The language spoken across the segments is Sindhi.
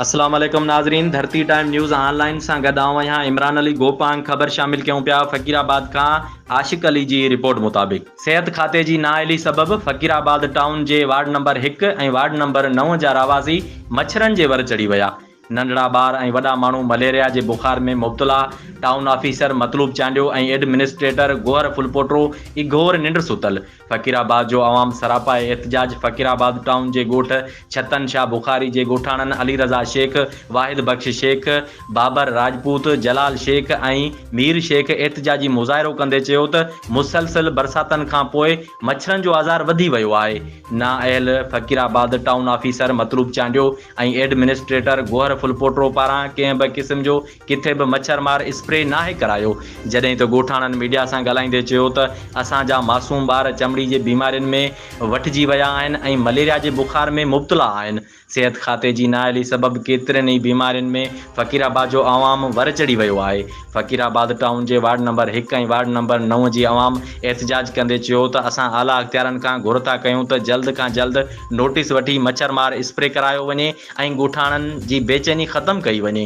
اسلام عليڪم ناظرين Dharti time news online سان گڏ آئون آهيان عمران علي گوپانگ خبر شامل ڪيون پيا فقير آباد کان عاشق علي جي رپورٽ مطابق صحت کاتي جي نااهلي سبب فقير آباد ٽائون جي وارڊ نمبر هڪ ۽ وارڊ نمبر نو جا رهواسي مڇرن جي ور چڙهي ويا ننڍڙا ٻار ۽ وڏا ماڻهو مليريا جي بخار ۾ مبتلا town officer Matloob Chandio ۽ administrator گوهر ڦلپوٽو اگهور ننڊ ستل فقير آباد جو عوام سراپا احتجاج فقير آباد ٽائون جي ڳوٺ ڇتن شاهه بخاري جي ڳوٺاڻن علي رضا شيخ، واحد بخش شيخ، بابر راجپوت، جلال شيخ ۽ مير شيخ احتجاجي مظاهرو ڪندي چيو ته مسلسل برساتن کان پوء مڇرن جو آزار وڌي ويو آهي، نااهل Faqirabad town officer Matloob Chandio ۽ administrator گوهر ڦلپوٽرو پاران ڪنهن به قسم جو ڪٿي به مڇر مار اسپري ناهي ڪرايو، جڏهن ته ڳوٺاڻن ميڊيا سان ڳالهائيندي چيو ته اسان جا معصوم ٻار چمڙي جي بيمارين ۾ وٺجي ويا آهن ۽ مليريا جي بخار ۾ مبتلا آهن، صحت کاتي جي نااهلي سبب ڪيترين ئي بيمارين ۾ فقير آباد جو عوام ور چڙهي ويو آهي، فقير آباد ٽائون جي وارڊ نمبر هڪ ۽ وارڊ نمبر نو جي عوام احتجاج ڪندي چيو ته اسان اعليٰ اختيارن کان گهر ٿا ڪيون ته جلد کان جلد نوٽيس وٺي مڇر مار اسپري ڪرايو وڃي ۽ ڳوٺاڻن جي بيچيني ختم ڪئي وڃي،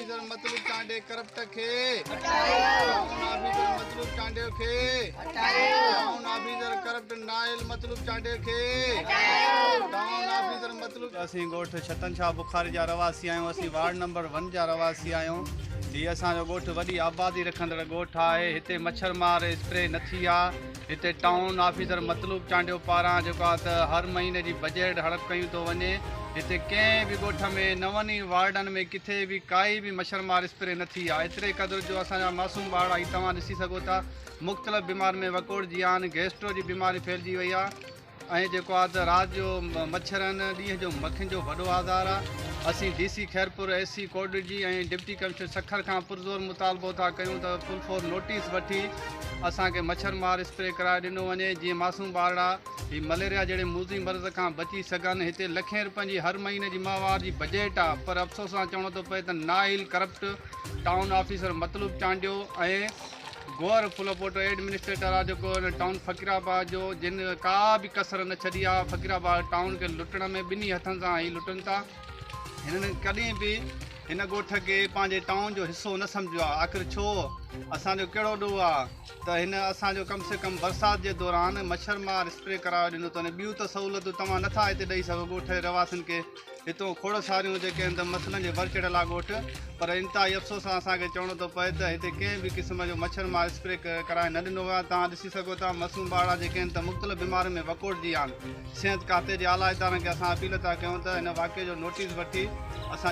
آفيسر مطلوب ٽانڊي ڪرپٽ کي هٽايو ٽائون آفيسر مطلوب ٽانڊي کي هٽايو ٽائون آفيسر ڪرپٽ نائل مطلوب ٽانڊي کي هٽايو ٽائون آفيسر مطلوب اسين ڳوٺ ڇتن شاهه بخاري جا رهواسي آهيون اسين وارڊ نمبر 1 جا رهواسي آهيون هي اسان جو ڳوٺ وڏي آبادي رکندڙ ڳوٺ آهي هتي مڇر مار اسپري نه ٿي آهي هتي ٽائون آفيسر مطلوب چانڊيو پاران جيڪو آهي ته هر مهيني جي بجيٽ هڙپ ڪيون ٿو وڃي. هتي ڪنهن به ڳوٺ ۾ نون ئي وارڊن ۾ ڪٿي به ڪائي به مڇرمار اسپري نه ٿي آهي ايتري قدر جو اسان جا معصوم ٻارڙا هي توهان ڏسي سگهو ٿا مختلف بيمارين ۾ وڪوڙجي ويا آهن گيسٽرو جي بيماري ڦهلجي وئي آهي. ۽ جيڪو آ ته رات جو مڇر ۽ ڏينهن جو مکين جو وڏو آزار آ. اسين D C Khairpur, S C ڪوڊجي ۽ ڊپٽي ڪمشنر سکر کان پرزور مطالبو ٿا ڪيون ته فل فور نوٽيس وٺي اسان کي مڇر مار اسپري ڪرائي ڏنو وڃي جيئن معصوم ٻارڙا هي مليريا جهڙي موذي مرض کان بچي سگهن هتي لکين روپين جي هر مهيني جي ماهوار جي بجيٽ آ پر افسوس سان چوڻو ٿو پئي ته نااهل corrupt town officer Matloob Chandio ۽ گوهر ڦلوپوٽو ايڊمنسٽريٽر آ جيڪو هن ٽائون فقيرآباد جو جن ڪا به ڪسر نه ڇڏي آ فقيرآباد ٽائون کي لٽڻ ۾ ٻنهي هٿن سان هي لٽن ٿا هنن ڪڏهن به هن ڳوٺ کي پنهنجي ٽائون جو حصو نه سمجهيو آ آخر ڇو اسان جو ڪهڙو ڏوهه آ ته هن اسان جو ڪم سي ڪم برسات جي دوران مڇر مار اسپري ڪرايو ڏنو تون ٻيون ته سهولتون توهان نه ٿا هتي ڏئي سگهو ڳوٺ جي رهواسين کي هتون کوڙ ساريون جيڪي هن دم مسئلن جي ڀر چڙهيل آ ڳوٺ پر انتهائي افسوس سان اسان کي چوڻو ٿو پئي ته هتي ڪنهن به قسم جو مڇر مار اسپري ڪرائي نه ڏنو ويو آهي توهان ڏسي سگهو ٿا معصوم ٻارڙا جيڪي هن دم مختلف بيمارين ۾ وڪوڙجي ويا آهن صحت کاتي جي اعليٰ ادارن کي اسان اپيل ٿا ڪيون ته هن واقعي جو نوٽيس وٺي اسان